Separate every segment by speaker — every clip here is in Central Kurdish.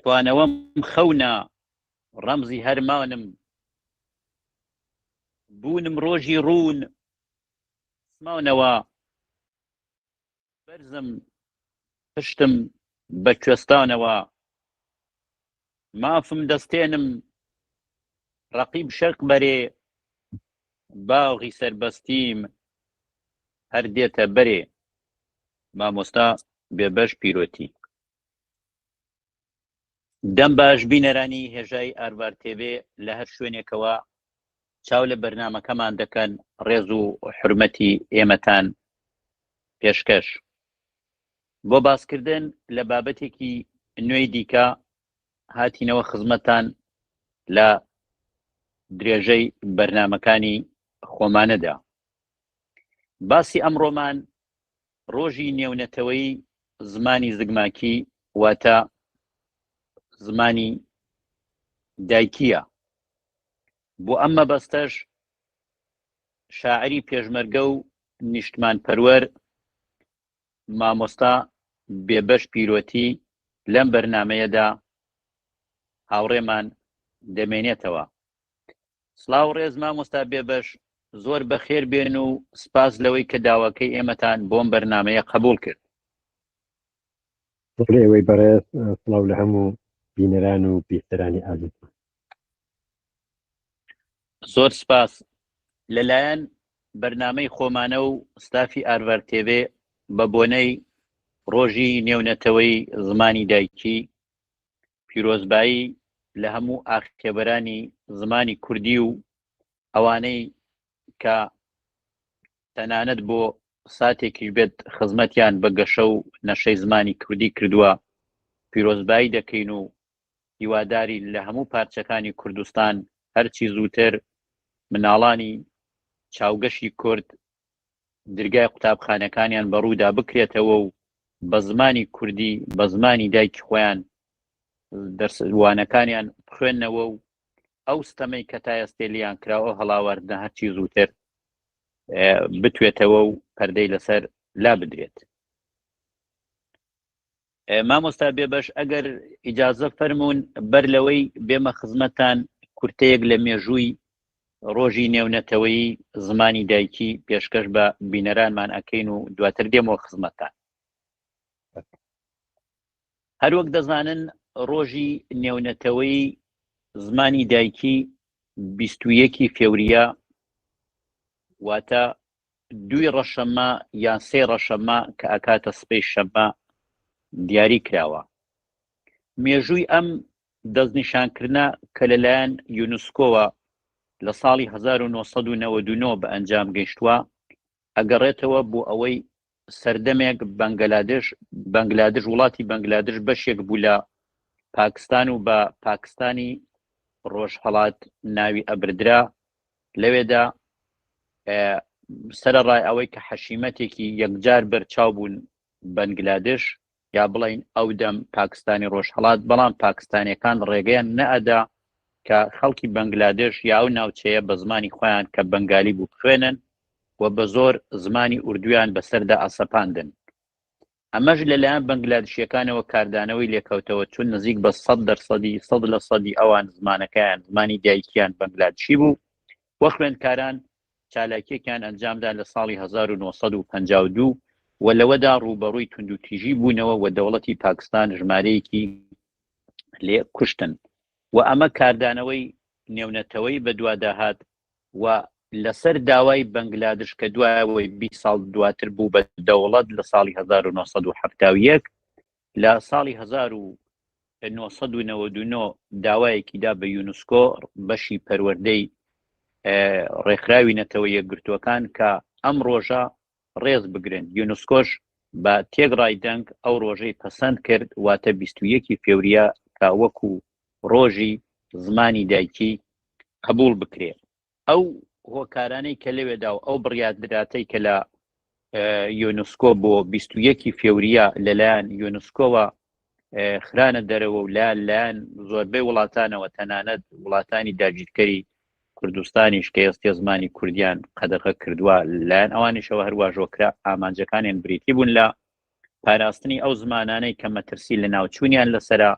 Speaker 1: توانەوەم خەونا ڕەمزی هەرمانم بوونم ڕۆژی ڕوون سماونەوە بەرزم پشتم بە کوێستانەوە مافم دەستێنم ڕەقیب شەق بەرێ باغی سربەستیم هەر دێتە بەرێ مامۆستا بێبەش پیرۆتی دەم باش بینەرانی هێژای ئارڤار تێڤێ لە هەر شوێنێکەوە چاو لە بەرنامەکەمان دەکەن ڕێز و حرمەتی ئێمەتان پێشکەش بۆ باسکردن لە بابەتێکی نوێی دیکە هاتینەوە خزمەتان لە درێژەی بەرنمەکانی خۆمانەدا باسی ئەمڕۆمان ڕۆژی نێونەتەوەیی زمانی زگماکی واتە زمانی دایکییە. بۆ ئەم مەبەستەش شاعری پێشمەرگە و نیشتمانپەروەر مامۆستا بێبەش پیرۆتی لەم بەرنامەیەدا هاوڕێمان دەمێنێتەوە. سڵاو ڕێز مامۆستا بێبەش زۆر بەخێر بێن و سپاس لەوەی کە داواکەی ئێمەتان بۆم بەرنمەیە قبول کرد بەڵێ
Speaker 2: ئەوەی بەڕێز سڵاو لە هەموو بینەران و بیستەرانی ئازیز
Speaker 1: زۆر سپاس لەلایەن بەرنمەی خۆمانە و ستافی ئارڤەر تێبێ بە بۆنەی ڕۆژی نێونەتەوەی زمانی دایکی پیرۆزبایی لە هەموو ئاخێبەرانی زمانی کوردی و ئەوانەی کە تەنانەت بۆ ساتێکیش بێت خزمەتیان بە گەشە و نەشەی زمانی کوردی کردووە پیرۆزبایی دەکەین و هیواداری لە هەموو پارچەکانی کوردستان هەرچی زووتر مناڵانی چاوگەشی کورد درگای قوتابخانەکانیان بەڕوودا بکرێتەوە و بە زمانی کوردی بە زمانی دایکی خۆیان دەرس وانەکانیان بخوێنەوە و ئەو ستەمەی کە تا ئێستێ لیان کراوە هەڵاواردنە هەرچی زووتر بتوێتەوە و پەردەی لەسەر لا بدرێت مامۆستا بێبەش ئەگەر ئیجازە فەرمونون بەر لەوەی بێمە خزمەتان کورتەیەک لە مێژووی ڕۆژی نێونەتەوەی زمانی دایکی پێشکەش بە بینەرانمان ئەکەین و دواتر دێمەوە خزمەتان هەروەک دەزانن ڕۆژی نێونەتەوەی زمانی دایکی بیستویەکی فێوریا واتە دوی ڕەشەمە یان سێ ڕەشەمە کە ئەکاتە سبەی شەمە دیاری کراوە مێژووی ئەم دەستنیشانکردنە کە لەلایەن یونسکۆوە لە ساڵی 1999 بە ئەنجام گەیشتووە ئەگەڕێتەوە بۆ ئەوەی سەردەمێک بەنگلادش بەنگلادش وڵاتی بەنگلادش بەشێک بوو لە پاکستان و بە پاکستانی ڕۆژهڵات ناوی ئەبردرا لەوێدا سەرڕای ئەوەی کە حەشیمەتێکی یەکجار بەرچاو بوون بەنگلادش یا بڵێین ئەو دەم پاکستانی ڕۆژهەڵات، بەڵام پاکستانیەکان ڕێگەیان نەئەدا کە خەڵکی بەنگلادێش یا ئەو ناوچەیە بە زمانی خۆیان کە بەنگالی بوو بخوێنن و بە زۆر زمانی ئوردویان بەسەردا ئەسەپاندن. ئەمەش لە لایەن بەنگلادشیەکانەوە کاردانەوەی لێکەوتەوە چون نزیک بە سەد دەرسەدی سەد لە سەدی ئەوان زمانەکەیان زمانی دایکیان بەنگلادشی بوو و خوێندکاران چالاکیەکیان ئەنجامدا لە ساڵی هەزار و نۆ سەد و پەنجا و دوو و لەوەدا ڕووبەڕووی توندوتیژی بوونەوە و دەوڵەتی پاکستان ژمارەیەکی لێ کوشتن و ئەمە کاردانەوەی نێونەتەوەی بەدواداهات و لەسەر داوای بەنگلادش کە دوایەوەی بی ساڵ دواتر بوو بە دەوڵەت لە ساڵی هەزار و نۆ سەد و حەفتا و یەک لە ساڵی هەزار و نۆ سەد و نەوەد و نۆ داوایەکی دا بە یونسکۆ بەشی پەروەردەی ڕێکخراوی نەتەوە یەکگرتووەکان کە ئەم ڕۆژە ڕێز بگرن یونسکۆش بە تێک ڕای دەنگ ئەو ڕۆژەی پەسەند کرد واتە 21 فێوریە کە وەکو ڕۆژی زمانی دایکی قبول بکرێت ئەو هۆکارانەی کە لەوێدا و ئەو بڕیادراتەی کە لە یۆنسکۆ بۆ 21 فێوریە لەلایەن یۆنسکۆوە خرانە دەرەوە و لا لایەن زۆربەی وڵاتانەوە تەنانەت وڵاتانی داگیرکەری کوردستانیش کە ئێستی زمانی کوردیان قەدەغە کردووە لایەن ئەوانیشەوە هەرواژۆکرا ئامانجەکانیان بریتی بوون لە پاراستنی ئەو زمانانەی کە مەترسی لە ناوچوونیان لەسرە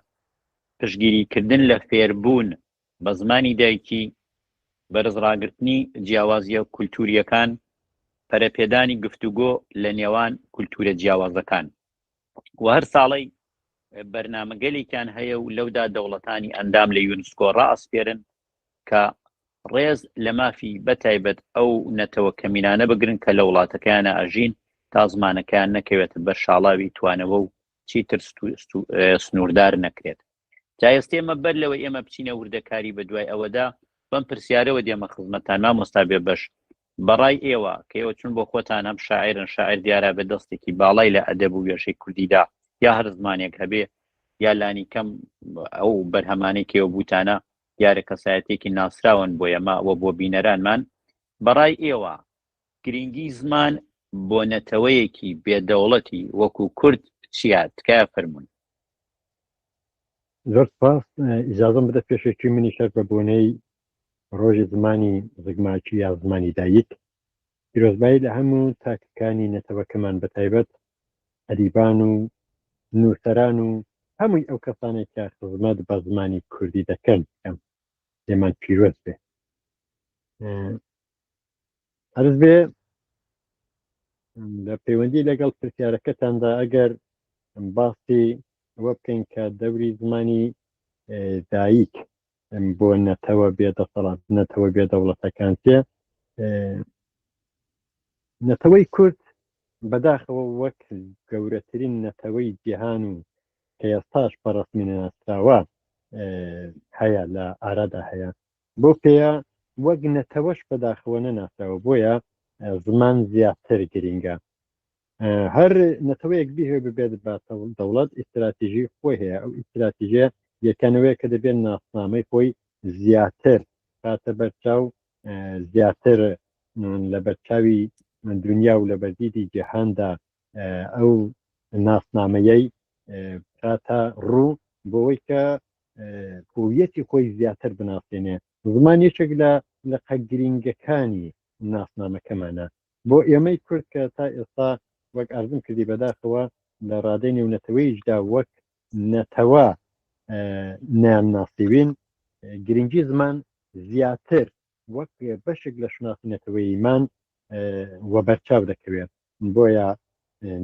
Speaker 1: پشگیریکردن لە فێربوون بە زمانی دایکی، بەرز ڕاگرتنی جیاوازییە کولتوورییەکان، پەرەپێدانی گفتوگۆ لە نێوان کولتوورە جیاوازەکان و هەر ساڵەی بەرنامەگەلێکیان هەیە و لەودا دەوڵەتانی ئەندام لە یونسکۆ ڕائەسپێرن کە ڕێز لە مافی بە تایبەت ئەو نەتەوە کەمینانە بگرن کە لە وڵاتەکەیانا ئەژین تا زمانەکەیان نەکەوێتە بەر شاڵاوی توانەوە و چیتر سنووردار نەکرێت. جا ئێستێمە بەر لەوەی ئێمە بچینە وردەکاری بە دوای ئەوەدا بەم پرسیارەوە دێمە خزمەتان مامۆستا بێ بەش بەڕای ئێوە کە ئێوە چون بۆ خۆتان هەم شاعرن شاعر دیارە بە دەستێکی باڵای لە ئەدەب و وێشەی کوردیدا یا هەر زمانێک هەبێ یا لانی کەم ئەو بەرهەمانەی کێوە بوتانە دیارە کەسایەتێکی ناسراون بۆ ئێمە و بۆ بینەرانمان بەڕای ئێوە گرینگی زمان بۆ نەتەوەیەکی بێ دەوڵەتی وەکو کورد چیە تکایە فەرموون.
Speaker 2: زۆر سپاس ئیجازەم بدە پێشێکی منی شەر بە بۆنەی ڕۆژی زمانی زگماکی یا زمانی دایک پیرۆزبایی لە هەموو تاکەکانی نەتەوەکەمان بە تایبەت ئەریبان و نووسەران و هەمووی ئەو کەسانێک کە خزمەت بە زمانی کوردی دەکەن کەم لێمان پیرۆز بێ عرز بێ لە پەیوەندی لەگەڵ پرسیارەکەتاندا ئەگەر باسی ئەوە بکەین کە دەوری زمانی دایک بۆ نەتەوە بێ دەسەڵات نەتەوە بێ دەوڵەتەکان تێ نەتەوەی کورد بەداخەوە وەک گەورەترین نەتەوەی جیهان و کە ئێستاش بەڕستمی ناسراوە هەیە لە ئارادا هەیە بەو پێیە وەک نەتەوەش بەداخەوە نەناسراوە بۆیە زمان زیاتر گرینگە. هەر نەتەوەیەک بیهوێ ببێت بە دەوڵەت ئیستراتیژی خۆی هەیە ئەو ئیستراتیژێ یەکەنەوەیە کە دەبێت ناسنامەی خۆی زیاتر باتە بەرچاو زیاتر لە بەرچاوی دنیا و لە بەردیدی جیهاندا ئەو ناسنامەیەی کاتە ڕوو بۆەوەی کە هویەتی خۆی زیاتر بناسێنێ زمان یەکێک لە لە قەگرینگەکانی ناسنامەکەمانە بۆ ئێمەی کورد کە تا ئێستا وەک ئەزم کردی بەداخەوە لە ڕادەی نێونەتەوەیشدا وەک نەتەوە نام ناسیوین گرنگی زمان زیاتر وەک بەشێک لە شناسی نەتەوەیمان وە بەرچاو دەکەوێت بۆیە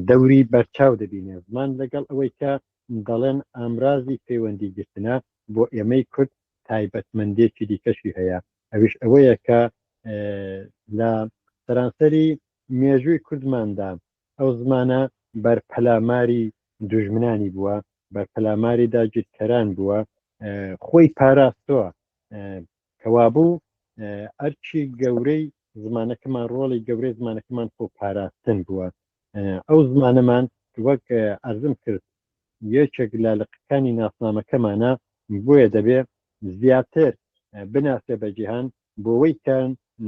Speaker 2: دەوری بەرچاو دەبینێ زمان لەگەڵ ئەوەی کە دەڵێن ئامرازی پەیوەندی گرتنە بۆ ئێمەی کورد تایبەتمەندێکی دیکەشی هەیە ئەوش ئەوەیە کە لە سەرانسەری مێژووی کوردماندا ئەو زمانە بەر پەلاماری دوژمنانی بووە بەر پەلاماری داگیرکەران بووە خۆی پاراستووە کەوابوو ئەرکی گەورەی زمانەکەمان ڕۆڵی گەورەی زمانەکەمان خۆ پاراستن بووە ئەو زمانەمان وەک ئەزم کرد یەکێک لە لقەکانی ناسنامەکەمانە بۆیە دەبێ زیاتر بناسێ بە جیهان بۆەوەی کە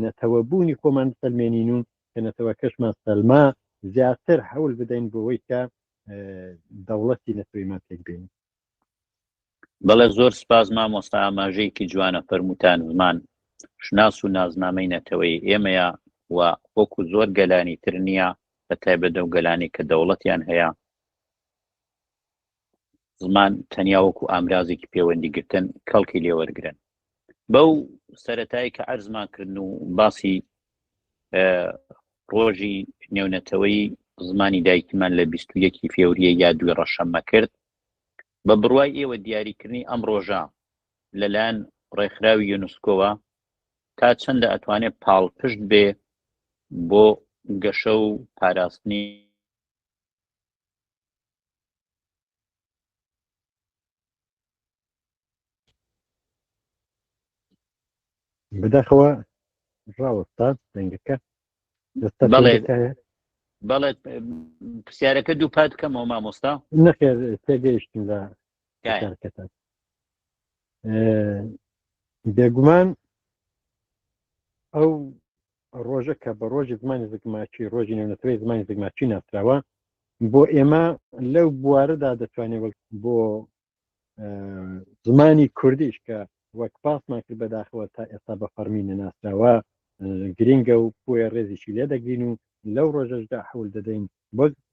Speaker 2: نەتەوەبوونی خۆمان سلمێنین و کە نەتەوەکەشمان سەلما زیاتر هەول بدەین بۆەوەی کە دەوڵەتی نەتەوەیمان تێکبین
Speaker 1: بەڵێ زۆر سپاس مامۆستا ئاماژەیەکی جوانە فەرموتان زمان شناس و نازنامەی نەتەوەی ئێمەیە و وەکو زۆر گەلانی تر نییە بە تایبەت و گەلانی کە دەوڵەتیان هەیە زمان تەنیا وەکو ئامرازێکی پەیوەندیگرتن کەڵکی لێوەرگن بەو سەتایی کە ئەرزمان کردن و باسی ڕۆژی نێونەتەوەی زمانی دایکیمان لە 21 فێوریە یا دوی ڕەشەممە کرد بە بڕوای ئێوە دیاریکردنی ئەم ڕۆژە لەلایەن ڕێکخراوی یونسکۆوە تا چەندە ئەتوانێت پاڵپشت بێ بۆ گەشە و پاراستنی
Speaker 2: بداخەوە ڕاوەستا دەنگەکە
Speaker 1: بەڵێ پرسیارەکە دوو پات کەمەوە مامۆستا نەخێر
Speaker 2: تێگەیشتن لە کارکەتان بێگومان ئەو ڕۆژە کە بە ڕۆژی زمانی زگماچی ڕۆژی نێونەتەوەی زمانی زگماچی ناسراوە بۆ ئێمە لەو بوارەدا دەتوانێت وەک بۆ زمانی کوردیش کە وەک پاسمان کرد بەداخەوە تا ئێستا بە فەرمی نەناسراوە گرنگە و بۆیە ڕێزیشی لێ دەگرین و لەو ڕۆژەشدا حول دەدەین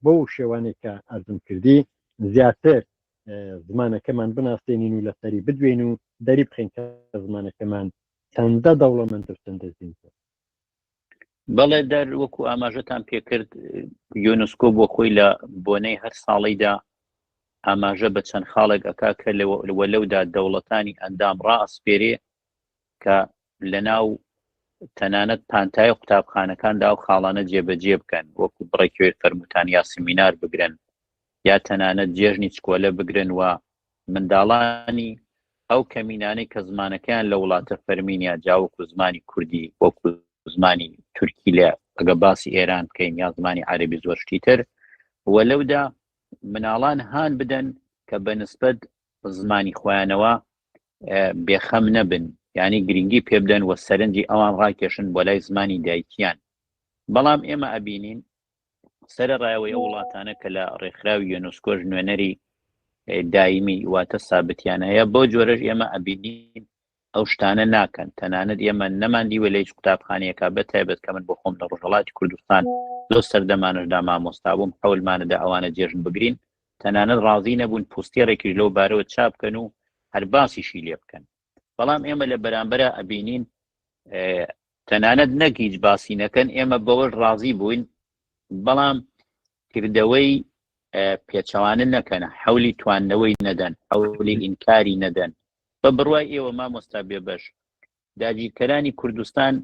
Speaker 2: بۆ شێوانێکە ئەزم کردی زیاتر زمانەکەمان بناسێنین و لەسەری بدوێن و دەری بخین کە زمانەکەمان چەندە دەوڵەمەند و چەندە زیندووە.
Speaker 1: بەڵێ دەر وەکو ئاماژەتان پێکرد یۆنسکۆ بۆ خۆی لە بۆنەی هەر ساڵیدا ئاماژە بە چەند خاڵێک ئەکا کە لەوە لەودا دەوڵەتانی ئەندام ڕاسپێرێ کە لە ناو تەنانەت پانتای و قوتابخانەکاندا و خاڵانە جێبەجێ بکەن وەکو بڕێکوێ فەرموتان یا سمینار بگرن یا تەنانەت جێژنی چکۆلە بگرن و منداڵانی ئەو کەمینانەی کە زمانەکەیان لە وڵاتە فەرمینیا جاوک و زمانی کوردی وەک و زمانی تورکی لە ئەگە باسی ئێران بکەین یا زمانی عربی زۆر شتیتر و لەودا مناڵان هان بدەن کە بە نسبت زمانی خۆیانەوە بێخەم نەبن ینی گرنگی پێ بدەن و سەرنجی ئەوان ڕاکێشن بۆ لای زمانی دایکیان بەڵام ئێمە ئەبینین سەرەڕایەوەی ئەو وڵاتانە کە لە ڕێکخراوی یۆنسکۆش نوێنەری دایمی واتە سابتیان هەیە بۆ جۆرەش ئێمە ئەبینین ئەو شتانە ناکەن تەنانەت ئێمە نەماندیوە لە هیچ قوتابخانەیەەکە بە تایبەت کە من بۆ خۆم لە ڕژەڵاتی کوردستان لۆ سەردەمانشدا مامۆستا بووم حولمانەدا ئەوانە جێژن بگرین تەنانەت ڕازی نەبوون پوستێڕێکیش لەو بارەوە چاپکەن و هەرباسیشی لێ بکەن بەڵام ئێمە لە بەرامبەرا ئەبینین تەنانەت نەک هیچ باسی نەکەن ئێمە بەوەش ڕازی بووین بەڵام کردەوەی پێچەوانە نەکەنە حولی توانەوەی نەدەن حولی ئینکاری نەدەن بە بڕوای ئێوە مامۆستا بێبەش داگیرکەرانی کوردستان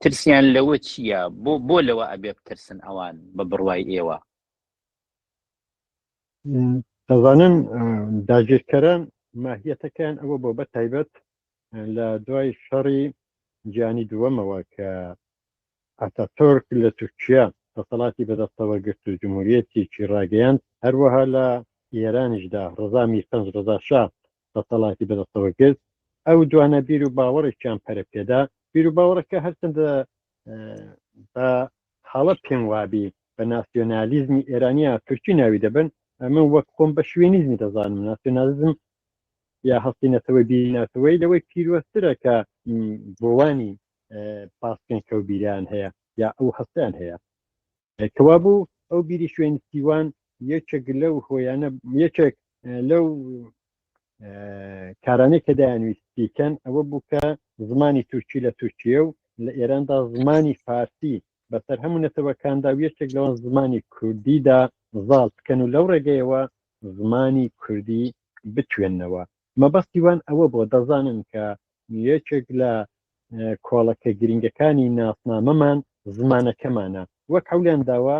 Speaker 1: ترسیان لەوە چییە بۆ بۆ لەوە ئەبێ بترسن ئەوان بە بڕوای ئێوە
Speaker 2: دەزانن داگیرکەران ماهیەتەکەیان ئەوە بۆ بە تایبەت لە دوای شەڕی جیانی دووەمەوە کە ئەتاتۆرک لە تورکیا دەسەڵاتی بەدەستەوە گرت و جمهوریەتێکی ڕاگەیاند هەروەها لە ئێرانیشدا ڕزامی پەنج ڕزاشا دەسەڵاتی بەدەستەوە گرت ئەو دوانە بیر و باوەڕێکیان پەرە پێدا بیر و باوەڕەکە هەرچەندە بە حاڵەت پێم وابی بە ناسیۆنالیزمی ئێرانیا تورکی ناوی دەبن ئەمە وەک خۆم بە شوێنیزمی دەزانم ناسیۆنالیزم یا هەستینەتەوەی بیناتەوەی لەوەی پیرۆسترە کە بۆوانی پاسکەن کەوبیریان هەیە یا ئەو هەستیان هەیە کەوابوو ئەو بیری شوێن سیوان یەکێک لەو هۆیانە یەکێک لەو کارانەی کە دایانویست بیکەن ئەوە بوو کە زمانی تورکی لە تورکیە و لە ئێراندا زمانی فارسی بەسەر هەموو نەتەوەکاندا و یەکێک لەوان زمانی کوردیدا زاڵ بکەن و لەو ڕێگەیەوە زمانی کوردی بتوێنەوە مەبەستی وان ئەوە بووە دەزانن کە یەکێک لە کۆڵەکە گرینگەکانی ناسنامەمان زمانەکەمانە، وەک حەولیان داوە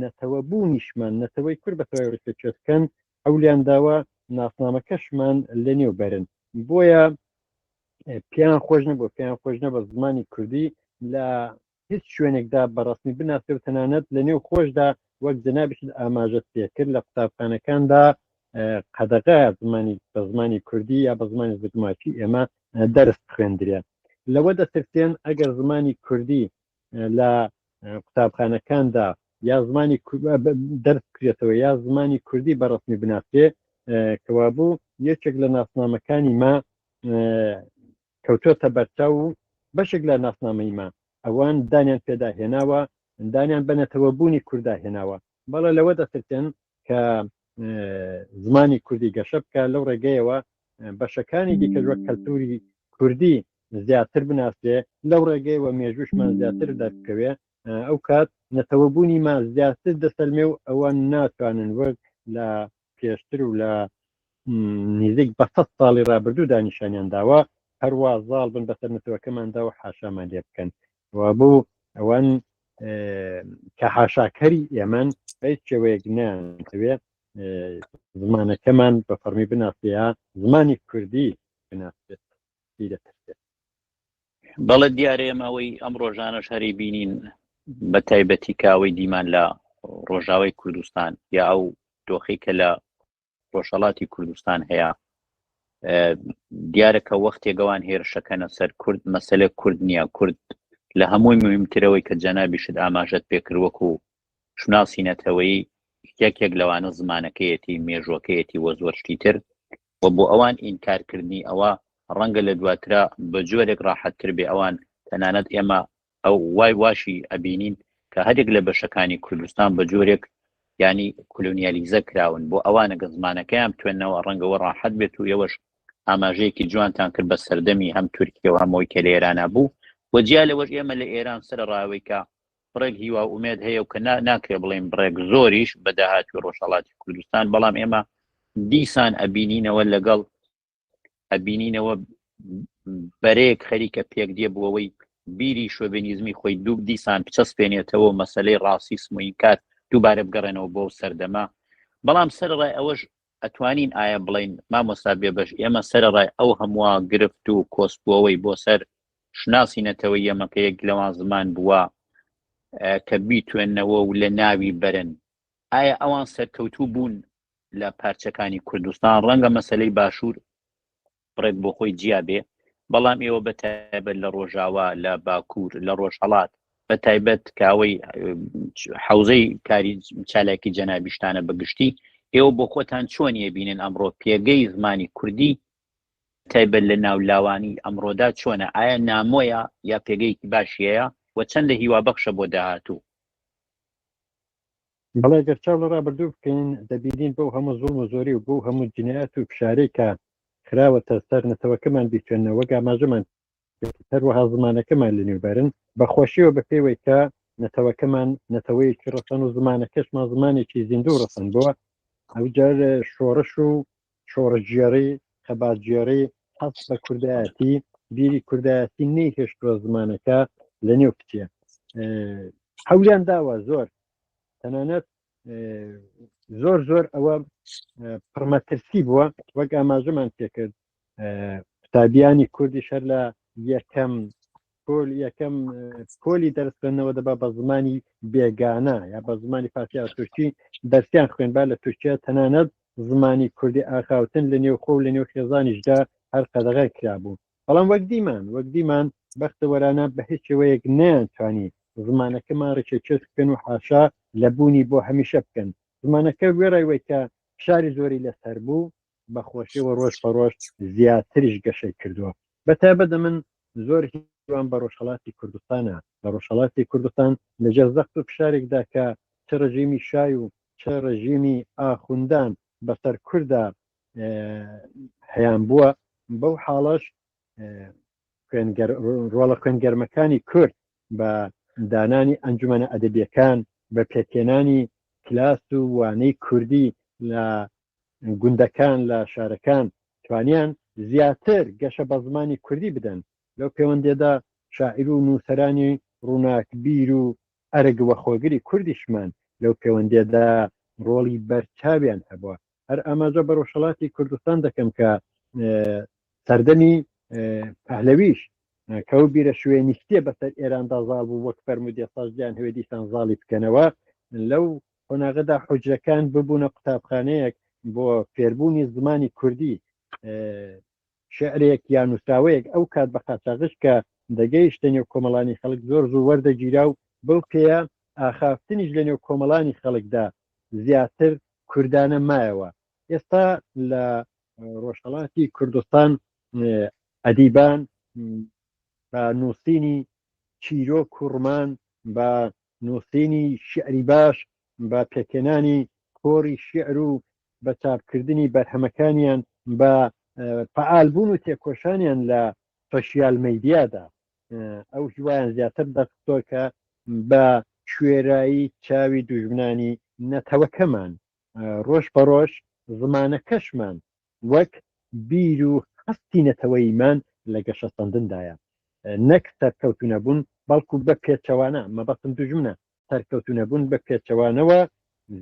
Speaker 2: نەتەوە بوونیشمان، نەتەوەی کورد بە تەواوی ڕیسە چێت بکەن، حەولیان داوە ناسنامەکەشمان لە نێو بەرن، بۆیە پێیان خۆش نەبووە پێیان خۆش نەبووە زمانی کوردی لە هیچ شوێنێکدا بە ڕەسمی بناسێ و تەنانەت لە نێو خۆشدا وەک جەنابیشت ئاماژەت پێ کرد لە قوتابخانەکاندا قەدەغە زمانی بە زمانی کوردی یا بە زمانی زگماکی ئێمە دەرس خوێندرێ لەوە دەترسێن ئەگەر زمانی کوردی لە قوتابخانەکاندا یا زمانی دەرس کرێتەوە یا زمانی کوردی بەڕسمی بناسێ کەوابوو یەکێک لە ناسنامەکانی ما کەوتۆتە بەرچاو و بەشێک لە ناسنامەی ما ئەوان دانیان پێدا هێناوە دانیان بە نەتەوە بوونی کوردا هێناوە بەڵێ لەوە دەترتێن کە زمانی کوردی گەشە بکە لەو ڕێگەیەوە بەشەکانی دیکەش وەک کەلتوری کوردی زیاتر بناسرێ لەو ڕێگەیەوە مێژوشمان زیاتر دەرکەوێ ئەو کات نەتەوەبوونی ما زیاتر دەسەلمێ و ئەوان ناتوانن وەک لە پێشتر و لە نزیک بە سەد ساڵی رابردوو دانیشانیان داوە هەروە زاڵ بن بەسەر نەتەوەکەماندا و حاشامان لێ بکەن و بۆ ئەوان کە حاشاکەری ئێمەن هیچ شێوەیەک نیان دەوێ زمانەکەمان بە فەرمی بناسەیە زمانی کوردی بناسێت پێی دەترسێت.
Speaker 1: بەڵێ دیارە ئێمە ئەوەی ئەم ڕۆژانەش هەری بینین بە تایبەتی کاوەی دیمان لە ڕۆژاوای کوردستان یا ئەو دۆخی کە لە ڕۆژهڵاتی کوردستان هەیە دیارە کە وەختێگەوان هێرشەکەنە سەر کورد مەسلە کورد نییە کورد لە هەمووی مهمترەوەی کە جەنابیشت ئاماژەت پێکردوەکو شوناسی نەتەوەیی یەکێک لەوانە زمانەکەیەتی مێژوەکەیەتی وە زۆر شتی تر و بۆ ئەوان ئینکارکردنی ئەوە ڕەنگە لە دواترا بە جۆرێک ڕاحەتتر بێ ئەوان تەنانەت ئێمە ئەو وای واشی ئەبینین کە هەرێک لە بەشەکانی کوردستان بە جۆرێک ینی کلونیالیزە کراون بۆ ئەوانە گە زمانەکەیان توێنەوە ڕەنگەوە ڕاحەت بێت و ئێوەش ئاماژەیەکی جوانتان کرد بە سەردەمی هەم تورکیە و هەمەوەی کە لە ئێرانە بوو وەجیا لەوەش ئێمە لە ئێران سەر ڕاوەیکە بڕێک هیوا و ئومێد هەیە و کە نا ناکرێ بڵێین بڕێک زۆریش بە داهاتووی ڕۆژهەڵاتی کوردستان بەڵام ئێمە دیسان ئەبینینەوە لەگەڵ ئەبینینەوە بەرەیەک خەریکە پێک دێ بووەوەی بیری شۆڤێنیزمی خۆی دوو دیسان بچەسپێنێتەوە مەسلەی ڕاسیسم و ئینکار دووبارە بگەڕێنەوە بۆ سەردەما بەڵام سەرڕای ئەوەش ئەتوانین ئایە بڵێین مامۆستا بێبەش ئێمە سەرەڕای ئەو هەمووە گرفت و کۆسپوەوەی بۆ سەر شناسی نەتەوە یەمەکە یەک لەوان زمان بووە کە بیتوێنەوە و لە ناوی بەرن ئایا ئەوان سەرکەوتوو بوون لە پارچەکانی کوردستان ڕەنگە مەسلەی باشوور بڕێک بۆ خۆی جیا بێ بەڵام ئێوە بە تایبەت لە ڕۆژاوا لە باکوور لە ڕۆژهڵات بە تایبەت کاوەی حوزەی کاری چالاکی جەنابیشتانە بەگشتی ئێوە بۆ خۆتان چۆن یەبینن ئەمڕۆ پێگەی زمانی کوردی تایبەت لە ناو لاوانی ئەمڕۆدا چۆنە ئایا نامۆیە یا پێگەیەکی باشیەیە و چەندە هیوا بەخشە بۆ داهاتوو
Speaker 2: بەڵێ گەر چاو لە ڕابردوو بکەین دەبینین بەو هەموو زوڵم و زۆری و بەو هەموو جنایەت و فشارەی کە خراوەتە سەر نەتەوەکەمان بیخوێننەوە وەک ئاماژەمان کرد هەروەها زمانەکەمان لەنێو بەرن بە خۆشیەوە بە پێوەی کە نەتەوەکەمان نەتەوەیەکی ڕەسەن و زمانەکەشمان زمانێکی زیندوو ڕەسەن بووە ئەوجار شۆڕش و شۆڕشگێڕی خەباتگێڕی حەز بە کوردایەتی بیری کوردایەتی نەیهێشتوە زمانەکە لە نێو بچێ حەولیان داوە زۆر تەنانەت زۆر زۆر ئەوە پڕمەترسی بووە وەک ئاماژەمان پێکرد قوتابیانی کوردی شەر لە یەکەم پۆل یەکەم پۆلی دەرس خوێندنەوە دەبا بە زمانی بێگانە یا بە زمانی فارسی یا تورکی دەرسیان خوێنبا لە تورکیا تەنانەت زمانی کوردی ئاخاوتن لە نێو خۆ لە نێو خێزانیشدا هەر قەدەغای کرابوو بەڵام وەک دیمان وەک دیمان بەختەوەرانە بە هیچ شێوەیەک نیانتوانی زمانەکەمان ڕێکێ چێت بکەن و حاشا لە بوونی بۆ هەمیشە بکەن زمانەکە وێڕای وەیکە فشاری زۆری لەسەر بوو بە خۆشی وە ڕۆژ بە ڕۆژ زیاتریش گەشەی کردووە بە تایبە دە من زۆر هیوام بە ڕۆژهڵاتی کوردستانە لە ڕۆژهڵاتی کوردستان لەژێر زەخت و فشارێکدا کە چ ڕژیمی شای و چ ڕژیمی ئاخوندان بەسەر کوردا هەیان بووە بەو حاڵەش ڕۆڵە خوێنگەرمەکانی کورد بە دانانی ئەنجومەنە ئەدەبیەکان بە پێکێنانی کلاس و وانەی کوردی لە گوندەکان لە شارەکان توانیان زیاتر گەشە بە زمانی کوردی بدەن، لەو پێوەندییەدا شاعیر و نووسەرانی ڕووناکبیر و ئەرک وەخۆگری کوردیشمان لەو پێوەندییەدا ڕۆڵی بەرچاویان هەبووە. هەر ئاماژە بە ڕۆژهەڵاتی کوردستان دەکەم کە سەردەمی پەهلەویش کە ئەو بیرە شوێنیستیە بەسەر ئێراندا زاڵ بوو وەک فەرمودێ ساژدیان هەوێ دیسان زاڵی بکەنەوە لەو قۆناغەدا حوجرەکان ببوونە قوتابخانەیەک بۆ فێربوونی زمانی کوردی شعرێک یا نووسراوەیەک ئەو کات بە قاچاغش کە دەگەیشتە نێو کۆمەڵانی خەڵک زۆر زوو وەردەگیرا و بەو پێیە ئاخافتنیش لە نێو کۆمەڵانی خەڵکدا زیاتر کوردانە مایەوە ئێستا لە ڕۆژهڵاتی کوردستان ئەدیبان بە نووسینی چیرۆک و ڕمان بە نووسینی شیعری باش بە پێکهێنانی کۆڕی شیعر و بە چاپکردنی بەرهەمەکانیان بە فعال بوون و تێکۆشانیان لە سۆشیال میدیادا ئەو هیوایان زیاتر دەخستۆ کە بە کوێرایی چاوی دوژمنانی نەتەوەکەمان ڕۆژ بە ڕۆژ زمانەکەشمان وەک بیر و هەستی نەتەوەییمان لە گەشەسەندندایە، نەک سەرکەوتوونەبوون، بەڵکو بە پێچەوانە، مەبەستم دوژمنە، سەرکەوتوونەبوون بە پێچەوانەوە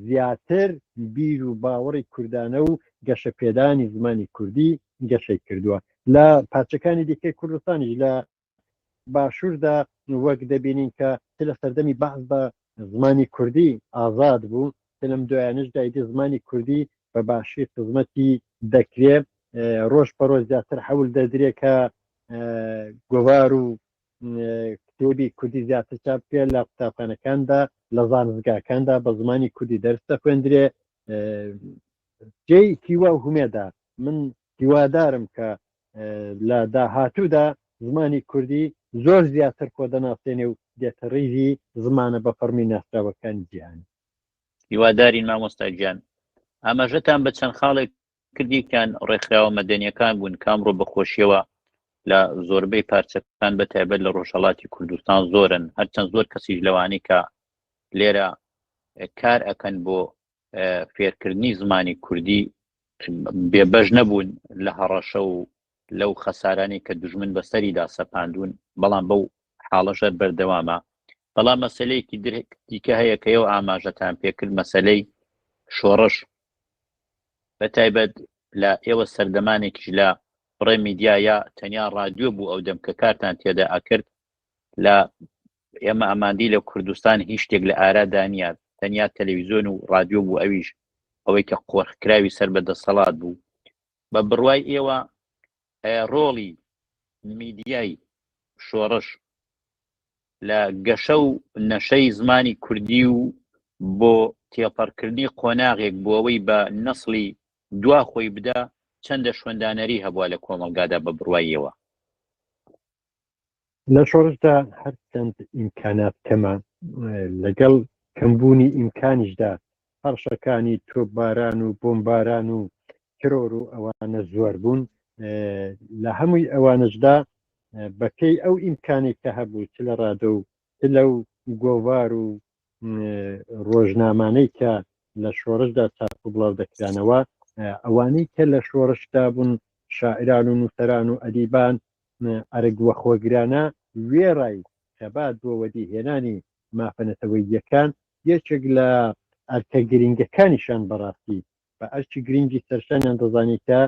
Speaker 2: زیاتر بیر و باوەڕی کوردانە و گەشەپێدانی زمانی کوردی گەشەی کردووە لە پارچەکانی دیکەی کوردستانیش لە باشووردا وەک دەبینین کە چ لە سەردەمی بەعس بە زمانی کوردی ئازاد بوو چ لەم دوایانەشدا ئیدی زمانی کوردی بە باشی خزمەتی دەکرێ ڕۆژ بە ڕۆژ زیاتر حەول دەدرێ کە گۆوار و کتێبی کوردی زیاتر چاپ بکرێت لە قوتابخانەکاندا لە زانستگاکاندا بە زمانی کوردی دەرس دەخوێندرێ جێی هیوا و هومێدا من هیوادارم کە لە داهاتوودا زمانی کوردی زۆر زیاتر خۆ دەناسێنێ و دێتە ڕیزی زمانە بە فەڕمی ناسراوەکانی جیهان هیوادارین
Speaker 1: مامۆستا گیان ئاماژەتان بە چەند خاڵێک کردیکان ڕێکخراوە مەدەنیەکان بوون کامڕۆ بەخۆشیەوە لە زۆربەی پارچەکان بە تایبەت لە ڕۆژهڵاتی کوردستان زۆرن هەرچەند زۆر کەسیش لەوانی کە لێرە کار ئەکەن بۆ فێرکردنی زمانی کوردی بێبەش نەبوون لە هەڕەشە و لەو خەسارانی کە دژمن بەسەریدا سەپاندون بەڵام بەو حاڵەشەر بەردەوامە بەڵام مەسلەیەکی درێک دیکە هەیە کە ئەو ئاماژەتان پێکرد مەسلەی شۆڕش بە تایبەت لە ئێوە سەردەمانێکیش لە بڕێ میدیایە تەنیا ڕادیۆ بوو ئەو دەم کە کارتان تێدا ئەکرد لە ئێمە ئەماندی لە کوردستان هیچ شتێک لە ئارادا نیە تەنیا تەلەویزیۆن و رادیۆ بوو ئەویش ئەوەی کە قۆرخکراوی سەر بە دەسەڵات بوو بە بڕوای ئێوە ڕۆڵی میدیای شۆڕش لە گەشە و نەشەی زمانی کوردی و بۆ تێپەڕکردنی قۆناغێک بۆەوەی بە نەسڵی دوا خۆی بدا چەندە شوێندانەری هەبووە لە کۆمەلگادا بە بڕوایەوە
Speaker 2: لە شۆڕشدا هەرچەند ئیمکانات کەمە لەگەڵ کەمبوونی ئیمکانیشدا هەڕشەکانی تۆباران و بۆمباران و ترۆر و ئەوانە زۆر بوون لە هەمووی ئەوانشدا بەپێی ئەو ئیمکانێک کە هەبوو چ لە ڕادە و لەو گۆوار و ڕۆژنامانەی کە لە شۆڕشدا چاپ و بڵاو دەکرانەوە ئەوانەی کە لە شۆڕشدا بوون شاعران و نووسەران و ئەدیبان ئەرگ وەخۆگرانە وێڕای خەبات بۆ وەدی هێنانی مافەنەتەوەییەکان یەکێک لە ئەرکە گرنگەکانیشان بەڕاستی بە ئەرکی گرینگی سەرشانیان دەزانی کە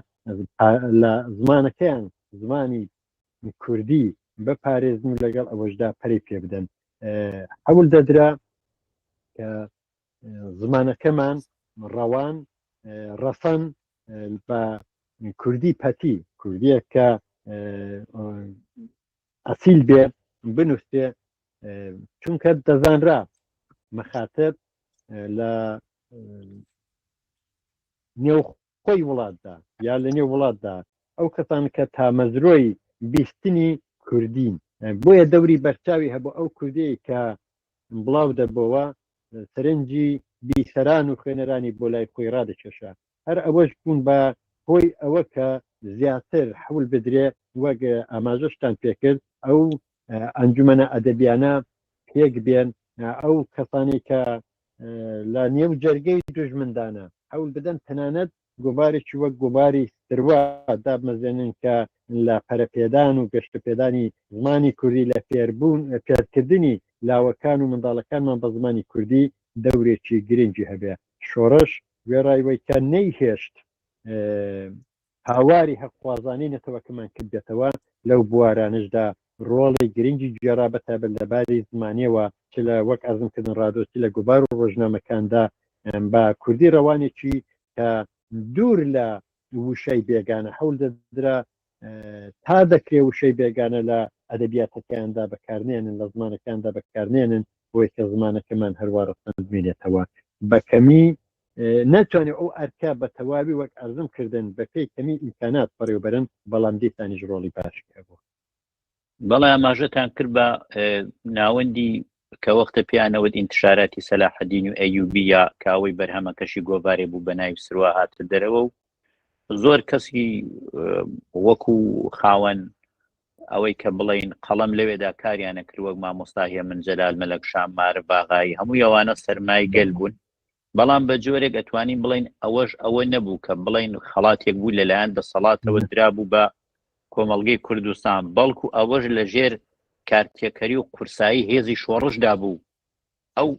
Speaker 2: لە زمانەکەیان، زمانی کوردی، بپارێزن و لەگەڵ ئەوەشدا پەرەی پێ بدەن. حەول دەدرا کە زمانەکەمان ڕەوان، ڕەسەن بە کوردی پەتی، کوردییەک کە ئەسیل بێ بنووسێ، چونکە دەزانرا مەخاتب لە نێو خۆی وڵاتدا یا لە نێو وڵاتدا ئەو کەسان کە تامەزرۆی بیستنی کوردین بۆیە دەوری بەرچاوی هەبوو ئەو کوردەیە کە بڵاو دەبەوە سەرنجی بیسەران و خوێنەرانی بۆ لای خۆی ڕادەکێشە هەر ئەوەش بوون بە هۆی ئەوە کە زیاتر حەول بدرێ وەک ئاماژەشتان پێکرد ئەو ئەنجومەنە ئەدەبیانە پێک بێن ئەو کەسانی کە لە نێو جەرگەی دژمندانە حەول بدەن تەنانەت گۆبارێکی وەک گۆباری سروە دابمەزێنن کە لە پەرەپێدان و گەشتپێدانی زمانی کوردی لە فێربوون فێرکردنی لاوەکان و منداڵەکانمان بە زمانی کوردی دەورێکی گرنگی هەبێ شۆڕش وێڕای وەی کە نەیهێشت هاواری هەقخوازانەی نەتەوەکەمان کردبێتەوە، لەو بوارانەشدا ڕۆڵێ گرنگی گێڕا بە تایبەت لە باری زمانیەوە چ لە وەک عەرزم کردن ڕادۆ چ لە گۆڤار و ڕۆژنامەکاندا بە کوردی ڕەوانێکی کە دوور لە ووشای بێگانە حەول دەدرا تا دەکرێ وشەی بێگانە لە ئەدەبیاتەکەیاندا بەکارنێنن لە زمانەکاندا بەکارنێنن بۆی کە زمانەکەمان هەروا ڕەسەن بمێنێتەوە بەکەمی ناتوانێت ئەو ئەرکە بە تەواوی وەک ئەزم کردن بەپی کەمی ئیمکانات بەڕێوبەرن بەڵام دیسانیش ڕۆڵی باشی هەبوو بەڵێ
Speaker 1: ئاماژەتان کرد بە ناوەندی کە وەختە پیانەوەت ئینتشاراتی سەلاحەدین و ئەیوبی یا کاوەی بەرهەمەکەشی گۆڤارێ بوو بە ناوی سروا هاتە دەرەوە و زۆر کەسی وەکو خاوەن ئەوەی کە بڵین قەڵم لەوێدا کاریانە کرد وەک مامۆستاهەیە من جەلال مەلەک شام مارە باغایی هەموو یوانە سەرمای گەل بوون بەڵام بە جۆرێک ئەتوانین بڵین ئەوەش ئەوە نەبوو کە بڵین خەڵاتێک بوو لەلایەن دەسەڵاتەوە درابوو بە کۆمەلگەی کوردستان بەڵکو ئەوەش لە ژێر کارتێکەری و قورسایی هێزی شۆڕشدا بوو ئەو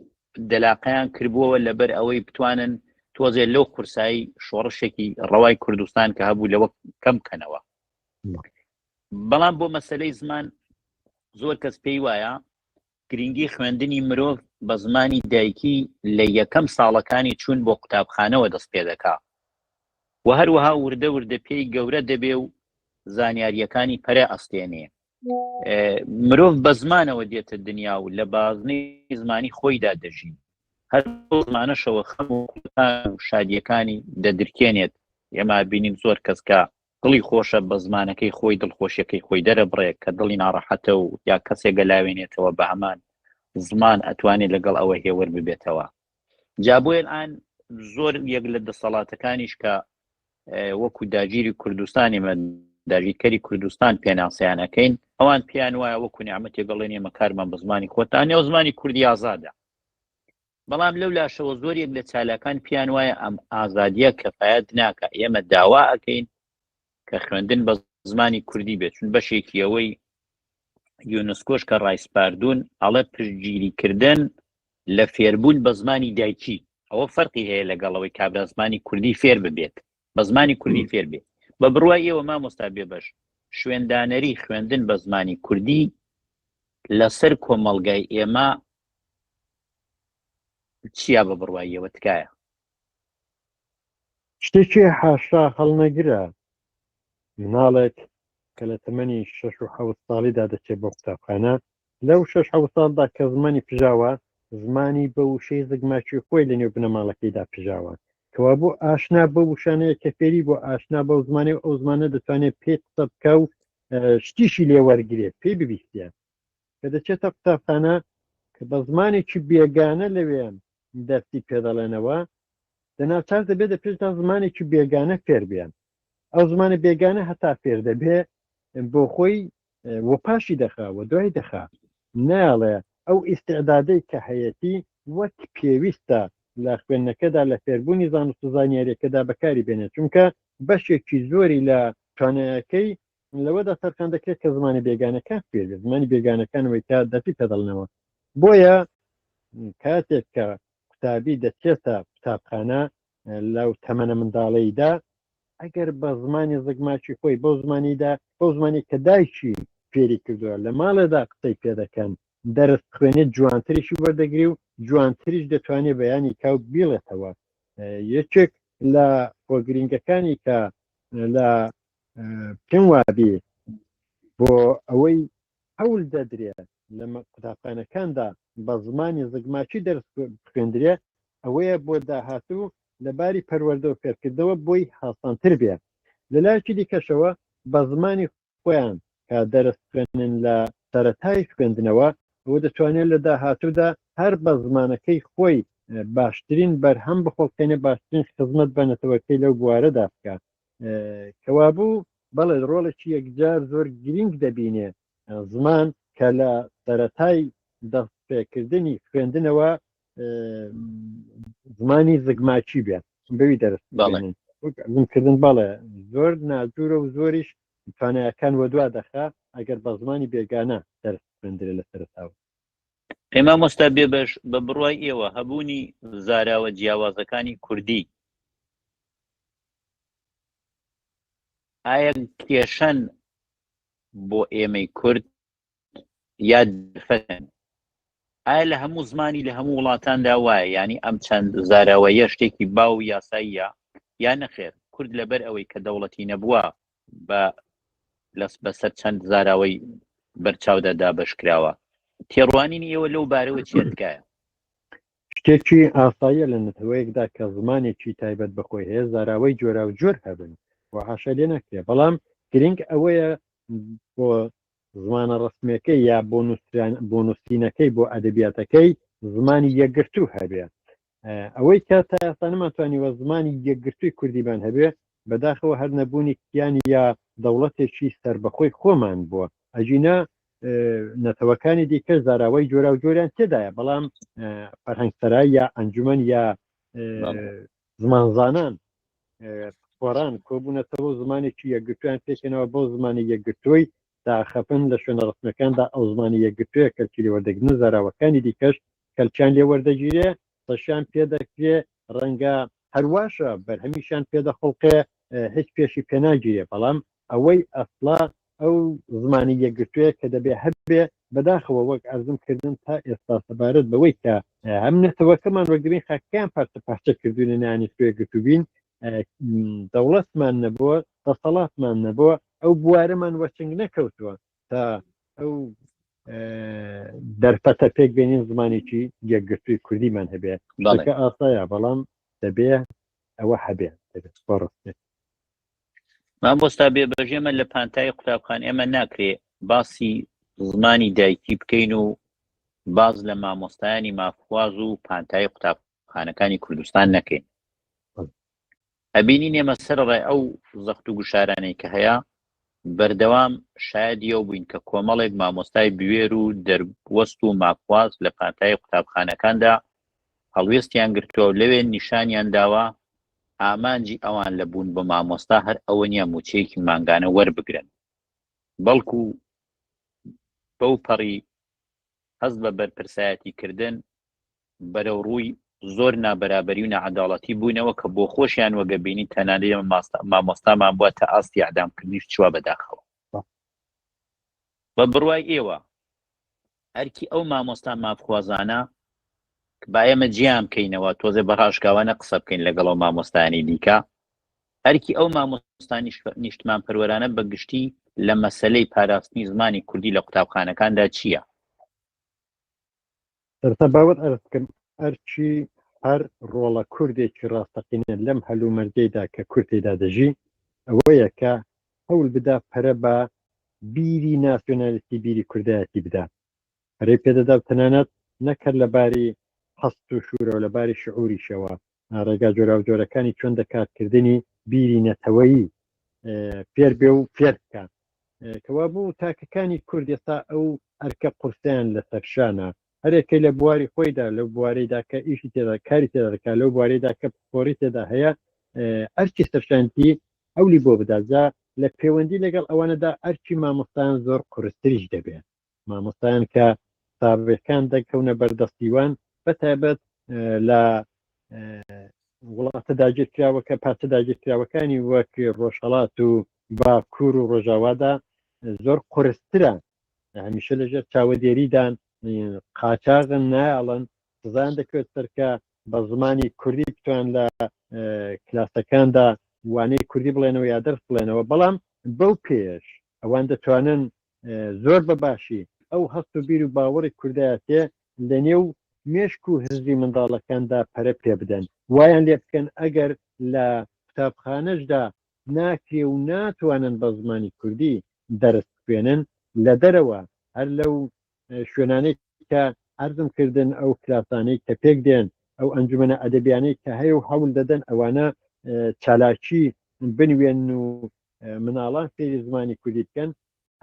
Speaker 1: دەلاقیان کردبووەوە لەبەر ئەوەی بتوانن تۆزێ لەو قورسایی شۆڕشێکی ڕەوای کوردستان کە هەبوو لەوە کەم بکەنەوە بەڵام بۆ مەسلەی زمان زۆر کەس پێی وایە گرنگی خوێندنی مرۆڤ بە زمانی دایکی لە یەکەم ساڵەکانی چوون بۆ قوتابخانەوە دەست پێ دەکا و هەروەها وردە وردە پێی گەورە دەبێ و زانیارییەکانی پەرە ئەستێنێ. مرۆڤ بە زمانەوە دێتە دنیا و لە بازنی زمانی خۆیدا دەژی. هەر زمانەشەوە خەم و شادیەکانی دەدرکێنێت ئێمە بینیم زۆر کەس کە دڵی خۆشە بە زمانەکەی خۆی دڵخۆشیەکەی خۆی دەرەبڕێ کە دڵی ناڕەحەتە و یا کەسێک گەلاوێنێتەوە بە هەمان زمان ئەتوانێت لەگەڵ ئەوە هێور ببێتەوە جا بۆیە ئان زۆر یەک لە دەسەڵاتەکانیش کە وەکو داگیری کوردستانی من داگیرکەری کوردستان پێناسیانەکەین ئەوان پێیان وایە وەکو نیامەتێک گەڵێن ئێمە کارمان بە زمانی خۆتان نێو زمانی کوردی ئازادە بەڵام لەو لاشەوە زۆریک لە چالاکان پێیان وایە ئەم ئازادیە کەفایەت ناکا، ئێمە داوا ئەکەین کە خوێندن بە زمانی کوردی بێت، چون بەشێکی ئەوەی یونسکۆش کە ڕایسپاردوون ئەڵێ پشتگیریکردن لە فێربوون بە زمانی دایکی ئەوە فەرقی هەیە لەگەڵ ئەوەی کابرا زمانی کوردی فێر ببێت. بە زمانی کوردی فێر بێ بە بڕوای ئێوە مامۆستا بێ بەش شوێندانەری خوێندن بە زمانی کوردی لەسەر کۆمەڵگای ئێمە چیا بە بڕواییەوە تکایە
Speaker 2: شتێکی حاشا هەڵنەگرە مناڵێک کە لە تەمەنی شش و حەوت ساڵیدا دەچێت بۆ قوتابخانە لەو شەش حەوت ساڵدا کە زمانی پژاوە، زمانی بە وشەی زگماکیی خۆی لە نێو بنەماڵەکەیدا پژاوە. کەوابوو ئاشنا بەو وشانەیە کە فێری بووە، ئاشنا بەو زمانەی و ئەو زمانە دەتوانێ پێی قسە بکا و شتیشی لێ وەرگرێ، پێی ببیستێ. کە دەچێتە قوتابخانە، کە بە زمانێکی بێگانە لەوێ دەرسی پێ دەڵێنەوە، دە ناچار دەبێ دە پێشدا زمانێکی بێگانە فێر بێ. ئەو زمانە بێگانە هەتا فێر دەبێ، بۆ خۆی و پاشی دەخا و دوای دەخا نایڵێ ئەو ئیستعدادەی کە هەیەتی وەک پێویستە لە خوێندنەکەدا لە فێربوونی زانست و زانیاریەکەدا بەکاری بێنێ چونکە بەشێکی زۆری لە توانایەکەی لەوەدا تەرخان دەکرێت کە زمانی بێگانەکان فێرێت زمانی بێگانەکانەوەی تا دەتی تەدەڵنەوە بۆیە کاتێک کە قوتابی دەچێتە قوتابخانە لەو تەمەە منداڵیدا ئەگەر بە زمانی زگماچی خۆی بەو زمانیدا بۆ زمانی کە دایکی فێری کردووە لە ماڵێدا قسەی پێ دەکەن دەرس خوێنێت جوانتریشی وەردەگری و جوانتریش دەتوانێت بەیانی کاو بیڵێتەوە یەکێک لە خۆگرنگەکانی کە لە پێم وابی بۆ ئەوەی هەول دەدرێ لە قوتابخانەکاندا بە زمانی زگماکی دەرس بخوێندرێ ئەوەیە بۆ داهاتوو لە باری پەروەردە و فێرکردنەوە بۆی هاسانتر بێ لە لایەکی دیکەشەوە بە زمانی خۆیان کە دەرس بخوێنن لە سەرەتای خوێندنەوە ئەوە دەتوانێت لە داهاتوودا هەر بە زمانەکەی خۆی باشترین بەرهەم بخۆڵقێنێ باشترین خزمەت بە نەتەوەکەی لەو بوارەدا بکات کەوابوو بەڵێ ڕۆڵێکی یەکجار زۆر گرنگ دەبینێ زمان کە لە سەتای دەستپێکردنی خوێندنەوە زمانی زگماچی بێت بەوی دەرست کردن بەڵێ زۆر ناجورە و زۆریش توانایەکان وە دوا دەخا ئەگەر بە زمانی بێگانە دەرست خوێندرێ لە سەرتاوە ئەی
Speaker 1: مامۆستا بێبەش بە بڕوای ئێوە هەبوونی زاراوە جیاوازەکانی کوردی ئایا کێشەن بۆ ئێمەی کورد یا دفەن ئایا لە هەموو زمانی لە هەموو وڵاتاندا وایە ینی ئەم چەند زاراوە یە شتێکی باو یاساییە یا نەخێر کورد لەبەر ئەوەی کە دەوڵەتی نەبووە بە لەس بەسەر چەند زاراوەی بەرچاودا دابش کراوە تێڕوانینی ئێوە لەو بارەوە چێ تکایە
Speaker 2: شتێکی ئاساییە لە نەتەوەیەکدا کە زمانێکی تایبەت بەخۆی هەیە زاراوەی جۆرا و جۆر هەبن و حاشا لێ ناکرێ بەڵام گرنگ ئەوەیە بۆ زمانە ڕستمەکەی یا بۆ نووسران بۆ نووسینەکەی بۆ ئەدەبیاتەکەی زمانی یەکگرتوو هەبێ ئەوەی کە تا ئێستا نەمانتوانیوە زمانی یەکگرتووی کوردیمان هەبێ بەداخەوە هەر نەبوونی کیان یا دەوڵەتێکی سربەخۆی خۆمان بووە ئەجینا نەتەوەکانی دیکە زاراوەی جۆرا و جۆریان تێدایە بەڵام فەرهەنگسەرای یا ئەنجومەن یا زمانزانان خۆران کۆبوونەتەوە زمانێکی یەکگرتویان پێکەنەوە بۆ زمانی یەکگرتووی داخەپن لە شوێنە ڕەسمیەکاندا ئەو زمانی یەکگرتوویە کەلکی لێ وەردەگرنو زاراوەکانی دیکەش کەلکیان لێ وەردەگیرێ سەشیان پێ دەکرێ ڕەنگە هەرواشە بەرهەمیشیان پێ دەخوڵقێ هیچ پێشی پێ ناگیرێ بەڵام ئەوەی ئەسڵە ئەو زمانی یەکگرتوویە کە دەبێ هەبێ بەداخەوە وەک عەرزم کردن تا ئێستا سەبارەت بەوەی کە هەم نەتەوەکەمان وەگرین خاکەکەیان پارچە پارچە کردوینە نەیانیتوێ گرتوبین دەوڵەتمان نەبووە دەسەڵاتمان نەبووە ئەو بوارەمان وەچنگ نەکەوتووە تا ئەو دەرفەتە پێک بێنین زمانێکی یەکگرتووی کوردیمان هەبێت بەڵکە ئاسایە بەڵام دەبێ ئەوە هەبێت دەبێت بەڕستێت
Speaker 1: مامۆستا بێبەژێمە لە پانتایی قوتابخان ئێمە ناکرێ باسی زمانی دایکی بکەین و باز لە مامۆستایانی مافواز و پانتایی قوتابخان خانەکانی کوردستان نەکەین ئەبینی نێمە سەر ڕێ ئەو زەخت و گوشارانەی کە هەیە بەردەوام شایدیەوە بووین کە کۆمەڵێک مامۆستای بوێر و دەروەست و ماکواز لە پانتایی قوتابخانەکاندا هەڵوێستیان گرتووە و لەوێ نیشانیان داوە ئامانجی ئەوان لە بوون بە مامۆستا هەر ئەوە نیە موچەیەکی مانگانە وەربگرن بەڵکو بەو پەڕی هەست بە بەرپرسایەتی کردن بەرەو ڕووی زۆر نابەرابەری و نەعەداڵەتی بوونەوە کە بۆ خۆشیان وەگە بینی تەنانەی مامۆستامان بووە تا ئاستی ئەعدامکردنیش چوە بەداخەوە بە بڕوای ئێوە ئەرکی ئەو مامۆستا مافخوازانە با ئێمە جیان بکەینەوە تۆزێ بەڕاشکاوانە قسە بکەین لەگەڵەوە مامۆستانی دیکە ئەرکی ئەو مامۆستا نیشتمانپەروەرانە بە گشتی لە مەسەلەی پاراستنی زمانی کوردی لە قوتابخانەکاندا چییە؟
Speaker 2: سەرتا باوەت ئەرز بکەم ئەرکی هەر ڕۆڵە کوردێکی ڕاستەقینە لەم هەلومەرجەیدا کە کورد تێدا دەژی ئەوەیە کە هەول بدا پەرە بە بیری ناسیۆنالیستی بیری کوردایەتی بدا پەرەی پێدەدا و تەنانەت نەکرد لە باری هەست و شوورەوە لە باری شعوریشەوە ڕێگا جۆراوجۆرەکانی چۆن دەکات کردنی بیری نەتەوەیی فێر بێ و فێر بکات کەوابوو تاکەکانی کورد ئێستا ئەو ئەرکە قورسیان لە سەرشانە هەرێکەی لە بواری خۆیدا لەو بوارەیدا کە ئیشی تێدا کاری تێدا دەکات لەو بوارەیدا کە پسپۆری تێدا هەیە ئەرکی سەرشانتی ئەولی بۆ بدات جا لە پەیوەندی لەگەڵ ئەوانەدا ئەرکی مامۆستایان زۆر قورستریش دەبێت مامۆستایان کە ساوێکان دەکەونە بەردەستیوان بە تایبەت لە وڵاتە داگیرکراوەکە پارتە داگیرکراوەکانی وەک ڕۆژهڵات و باکوور و ڕۆژاوادا زۆر قرسترە هەمیشە لەژێر چاوەدێریدان قاچاغن نایڵن سزان دەکەوێت سەرکە بە زمانی کوردی بتوان لە کلاسەکاندا وانەی کوردی بڵێنەوە یا دەرس بڵێنەوە بەڵام بەو پێش ئەوان دەتوانن زۆر بە باشی ئەو هەست و بیر و باوەڕی کوردایەتیە لە نێو مێشک و هزری منداڵەکاندا پەرە پێ بدەن، وایان لێ بکەن ئەگەر لە قوتابخانەشدا ناکرێ و ناتوانن بە زمانی کوردی دەرس بخوێنن لە دەرەوە هەر لەو شوێنانەی کە عەرزم کردن ئەو کلاسانەی کە پێک دێن ئەو ئەنجومەنە ئەدەبیانەی کە هەیە و هەول دەدەن ئەوانە چالاکی بنوێن و مناڵان سەیری زمانی کوردی بکەن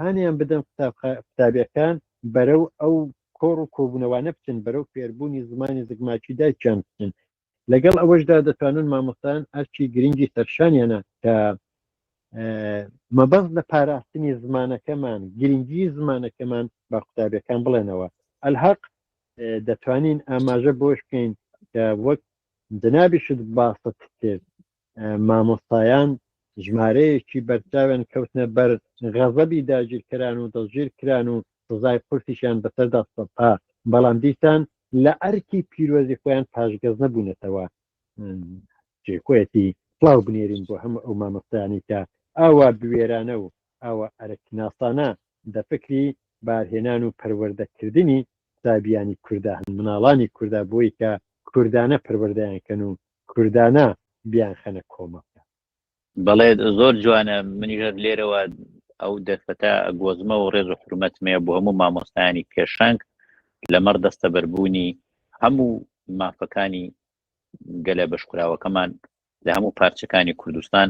Speaker 2: هانیان بدەن قوتابیەکان بەرەو ئەو کۆڕ و کۆبوونەوانە بچن بەرەو فێربوونی زمانی زگماکی دایکیان بچن لەگەڵ ئەوەشدا دەتوانن مامۆستان ئەرکی گرنگی سەرشانیانە کە مەبەست لە پاراستنی زمانەکەمان گرنگی زمانەکەمان بە قوتابیەکان بڵێنەوە ئەلحق دەتوانین ئاماژە بۆش بکەین کە وەک جنابیشت باست کرد مامۆستایان ژمارەیەکی بەرچاویان کەوتنە بەر غەزەبی داگیرکەران و دەستگیر کران و سزای قورسیشیان بەسەردا سەپا بەڵام دیسان لە ئەرکی پیرۆزی خۆیان پاشگەز نەبوونەتەوە جێکۆیەتی پڵاو بنێرین بۆ هەموو ئەو مامۆستایانی کە ئاوا بوێرانە و ئاوا ئەرکناسانە دە فکری بارهێنان و پەروەردەکردنی قوتابیانی کورددا هەن مناڵانی کورددا بۆی کە کوردانە پەروەردەیان کەن و کوردانە بیان خەنە
Speaker 1: کۆمەک. بەڵێ زۆر جوانە منیش لێرەوە ئەو دەرفەتە گۆزمە و ڕێز و حرمەتمەیە بۆ هەموو مامۆستایانی پێشەنگ لەمەڕ دەستەبەربوونی هەموو مافەکانی گەلە بەشکراوەکەمان لە هەموو پارچەکانی کوردستان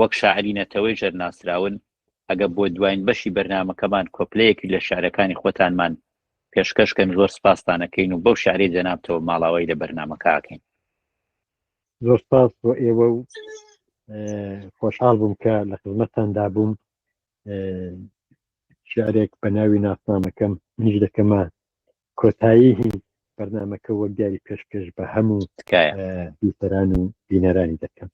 Speaker 1: وەک شاعری نەتەوەی ژەر ناسراون، ئەگە بۆ دواین بەشی بەرنامەکەمان کۆپلەیەکی لە شعرەکانی خۆتانمان پێشکەش کەن زۆر سپاستان ئەکەین و بەو شعرەی جەنابتەوە ماڵاوایی لە بەرنامەکە ئەکەین.
Speaker 2: زۆر سپاس بۆ ئێوە و خۆشحاڵ بووم کە لە خزمەتتاندا بووم شعرێک بە ناوی ناسنامەکەم منیش دەکەمە کۆتایی بەرنمەکە وەک دیاری پێشکەش بە هەموو دووسەران و بینەرانی دەکەم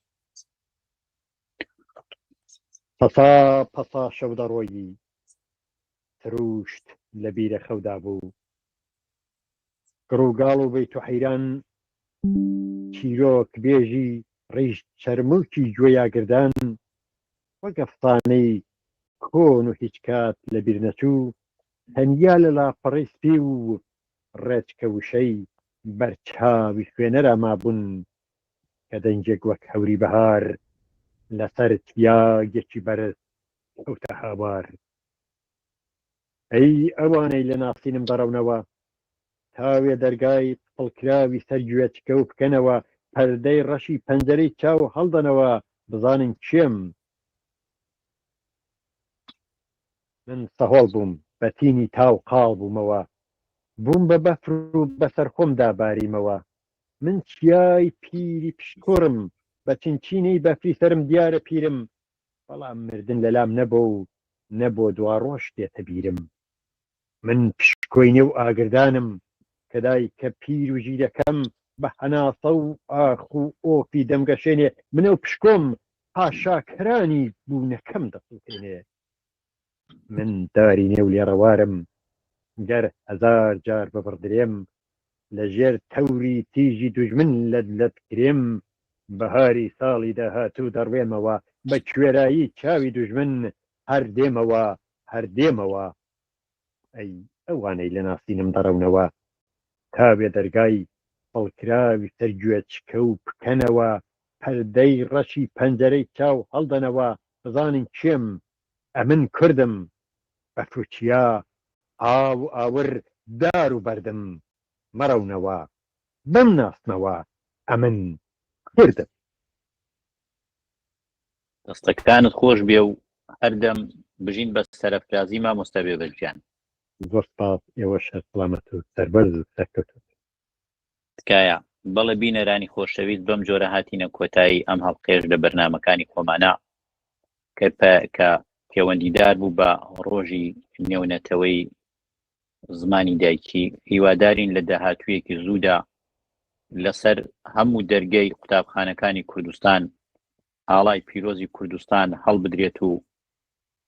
Speaker 2: پەتا پەتا شەو دەڕۆیی سرووشت لە بیرە خەودا بوو گڕ و گاڵ و بەیت و حەیران چیرۆک بێژی ڕیش چەرمووکی گوێی ئاگردان وەک ئەفسانەی کۆن و هیچ کات لە بیر نەچوو تەنیا لە لاپەڕەی سپی و ڕێچکە وشەی بەر چاوی خوێنەرا مابوون کە دەنگێک وەک هەوری بەهار لەسەر تیاگێکی بەرز کەوتە هاوار ئەی ئەوانەی لە ناسینم بەرەونەوە تاوێ دەرگای پڵکراوی سەر گوێچکە و بکەنەوە پەردەی ڕەشی پەنجەرەی چاو هەڵدەنەوە بزانن کێم من سەهۆڵ بووم بە تینی تاو قاڵ بوومەوە بووم بە بەفر و بەسەر خۆمدا باریمەوە من چیای پیری پشکۆڕم بە چنچینەی بەفری سەرم دیارە پیرم بەڵام مردن لە لام نە بۆ و نە بۆ دواڕۆژ دێتە بیرم من پشکۆی نێو ئاگردانم کە دایکە پیر و ژیرەکەم بە هەناسە و ئاخ و ئۆفی دەمگەشێنێ من ئەو پشکۆم حاشاکەرانی بوونەکەم دەسووتێنێ من تاری نێو لێڕەوارم گەر هەزار جار ببڕدرێم لە ژێر تەوری تیژی دوژمن لەت لەت کرێم بەهاری ساڵی داهاتوو دەڕوێمەوە بە کوێرایی چاوی دوژمن هەر دێمەوە هەر دێمەوە ئەی ئەوانەی لە ناسینم دەڕەونەوە تا وێ دەرگای پڵکراوی سەر گوێچکە و پکەنەوە پەردەی ڕەشی پەنجەرەی چاو هەڵدەنەوە بزانن کێم ئەمن کوردم بە تورکیا ئاو و ئاور دار و بەردم مەڕەونەوە بم ناسنەوە ئەمن کوردم.
Speaker 1: دەستەکانت خۆش بێ و هەر دەم بژین بە سەرەفرازی مامۆستا بێبەش گیان. زۆر سپاس
Speaker 2: ئێوەش هەر سڵامەت و سەربەرز و سەرکەوتوو بن. تکایە.
Speaker 1: بەڵێ بینەرانی خۆشەویست بەم جۆرە هاتینە کۆتایی ئەم هەڵقەیەش لە بەرنامەکانی خۆمانە کە پە کە پێوەندیدار بوو بە ڕۆژی نێونەتەوەی زمانی دایکی هیوادارین لە داهاتوویەکی زوودا لەسەر هەموو دەرگەی قوتابخانەکانی کوردستان ئاڵای پیرۆزی کوردستان هەڵبدرێت و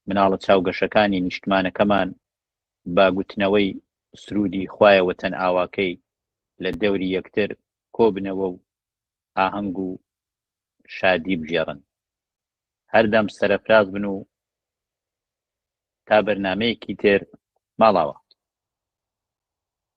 Speaker 1: مناڵە چاوگەشەکانی نیشتمانەکەمان بە گوتنەوەی سروودی خوایە وەتەن ئاواکەی لە دەوری یەکتر کۆ بنەوە و ئاهەنگ و شادی بگێڕن. هەردەم سەرەفراز بن و تا بەرنامەیەکی تر ماڵاوا.